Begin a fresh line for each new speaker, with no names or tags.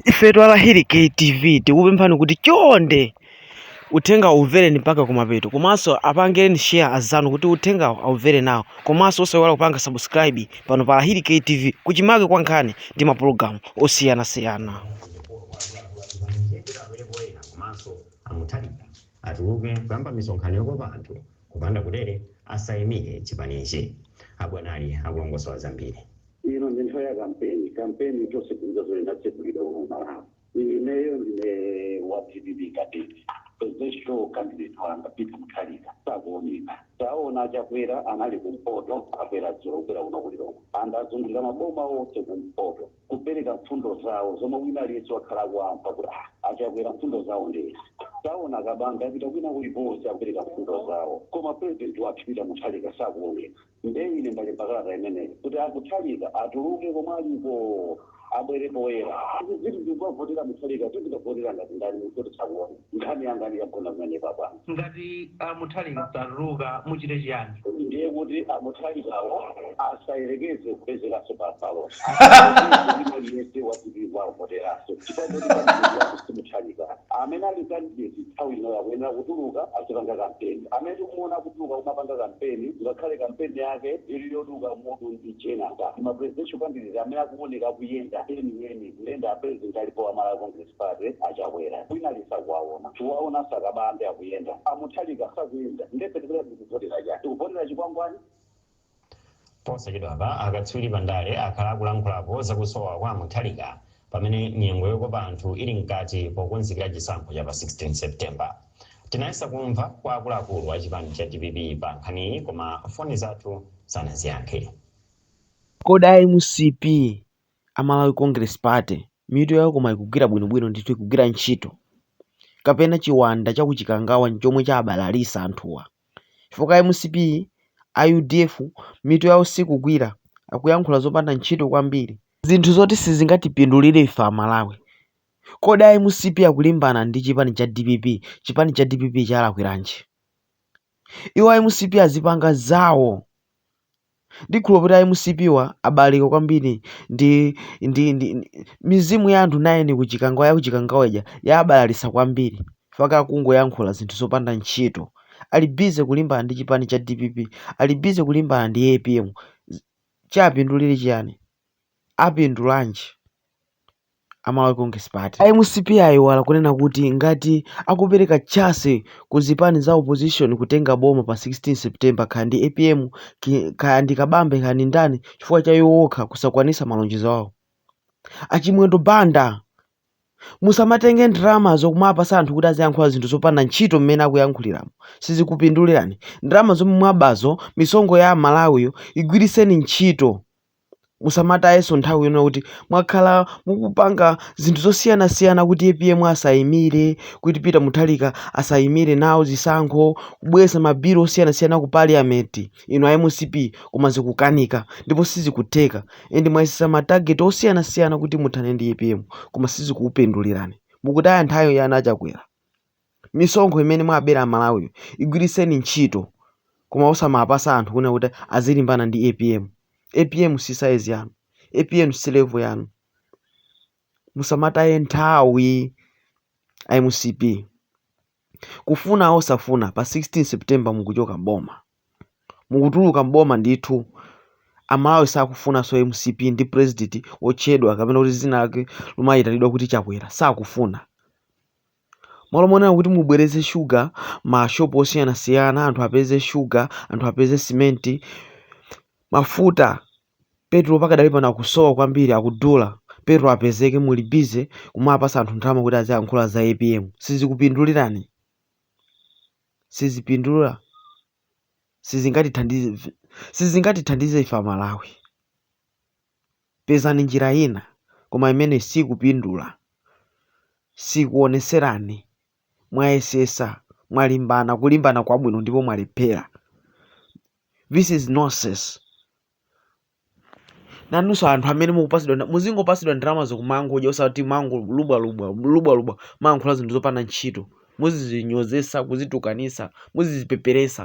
Ifetu a Lahiri KTV tikupemphani kuti chonde uthengawu umvereni mpaka kumapeto komanso apangireni share azanu kuti uthengawu aumvere nawo komanso osaiwala kupanga subscribe pano pa Lahiri KTV kuchimake kwa nkhani ndi mapulogalamu
osiyanasiyana. A Mutharika atuluke kuyamba misonkhano yokopa anthu kupanda kutere asaimire chipanichi a Bwanali akulongosola zambiri. Ino ndi nthawi
ya kampeni, kampeni tonse tikudziwa zoti inatsegulidwa kuno Malawi. Ineyo ndine wa DPP cadet presidential candidate wanga Peter Mutharika sakuoneka. Taona a Chakwera anali kumpoto abwera dzulo kubwera kuno ku Lilongwe and azungulira maboma onse kumpoto kupereka mfundo zawo zomwe wina aliyense wakhala akuamva kuti "Ah, a Chakwera mfundo zawo ndi izi taona a Kabambe apita kwina kulikonse akupereka mfundo zawo koma president wathu Peter Mutharika sakuoneka Nde ine ndalemba kalata imeneyi kuti a Mutharika atuluke komwe aliko abwere poyera. Ifetu tizikavotera Mutharika tizikavotera ngati ndani munthu tisakuona. Nkhani yanga ine yagona pamenepo abwana. Ngati a
Mutharika satuluka muchite chiyani? Ndiye kuti
a Mutharikawo asayerekeze kupezekanso pa ballot. Asayerekezenso wina aliyense wa dpp kuwavoteranso chifukwa choti candidate wawo si Mutharika. Amene ali candidate nthawi inoyo akuyenera kutuluka azipanga kampeni. Amene tikumuona aku tuluka kumapanga kampeni ngakhale kampeni yake ili yoduka mutu ndi chenaka ma presidential candidate amene akuoneka akuyenda enieni kuyenda apresident alipo a Malawi Congress Party a Chakwera wina lisakuwaona tikuwaona a Kabambe akuyenda a Mutharika sakuyenda nde pena tikuvotera chani tikuvotera chikwangwani
Posachedwapa akatswiri pa ndale akhala akulankhulapo za kusowa kwa a Mutharika pamene nyengo yokopa anthu ili mkati pokonzekera chisankho cha pa 16 September. Tinayesa kumva kwa akuluakulu a chipani cha dpp pa nkhaniyi koma foni zathu
sanaziyankhe. Kodi a mcp, a Malawi Congress Party, mitu yawo koma ikugwira bwino bwino ndithu ikugwira ntchito? Kapena chiwanda cha ku Chikangawa nchomwe chabalalisa anthuwa? chifukwa a mcp, a udf mitu yawo sikugwira akuyankhula zopanda ntchito kwambiri, zinthu zoti sizingatipindulire ife a Malawi, kodi a mcp akulimbana ndi chipani cha dpp, chipani cha dpp chalakwiranji? Iwo a mcp azipanga zawo. Ndikukhulupirira kuti a mcp-wa abalalika kwambiri ndi ndi ndi mizimu ya anthu 9 ku Chikangawa ya ku Chikangawa ija yawabalalitsa kwambiri chifukwa akungoyankhula zinthu zopanda ntchito. Ali busy kulimbana ndi chipani cha dpp. Ali busy kulimbana ndi apm. Chiwapindulira chiyani? Apindulanji? a malawi congress party a mcp aiwala kunena kuti ngati akupereka chance ku zipani za opposition kutenga boma pa 16 september kaya ndi apm ki- kaya ndi kabambe kaya ndi ndani chifukwa cha iwo okha kusakwanisa malonjezo awo achimwendo banda musamatenge ndalama zokumapasa anthu kuti aziyankhula zinthu zopanda ntchito mmene akuyankhuliramo sizikupindulirani ndalama zomwe mwabazo misonkho ya amalawiyo igwiritseni ntchito musamatayenso nthawi yonena kuti mwakhala mukupanga zinthu zosiyanasiyana kuti apm asayimire kuti peter mutharika asayimire nawo zisankho kubweretsa mabilo osiyanasiyana ku parliament ino a mcp koma zikukanika ndipo sizikutheka and mwayesesa matarget osiyanasiyana kuti muthane ndi apm koma sizikupindulirani mukutaya nthawi ana achakwera misonkho imene mwabera amalawiyo igwiritseni ntchito koma osamapasa anthu kunena kuti azilimbana ndi apm apm si size yanu apm si level yanu musamataye nthawi a mcp kufuna osafuna pa 16 september mukuchoka mboma mukutuluka mboma ndithu amalawi sakufunanso mcp ndi president wotchedwa kapena kuti zina lake limayitanidwa kuti chakwera sakufuna Malo monena kuti mubwerese shuga mmashopu osiyanasiyana anthu apeze shuga anthu apeze simenti mafuta petro pakadali pano akusowa kwambiri akudula petro apezeke muli busy kumapasa anthu ndalama kuti aziyankhula za apm sizikupindulirani sizipindula sizingatithandize sizingatithandize ife amalawi Pezani njira ina koma imeneyi sikupindula sikuwoneserani mwayesesa mwalimbana kulimbana kwabwino ndipo mwalephera this is nonsense nanuso anthu amene mukupasidwa muzingopasidwa ndalamazo kumangodya osati kumangolubwa lubwa lubwa lubwa kumayankhula zinthu zopanda ntchito muzizinyozesa kuzitukanisa muzizipeperesa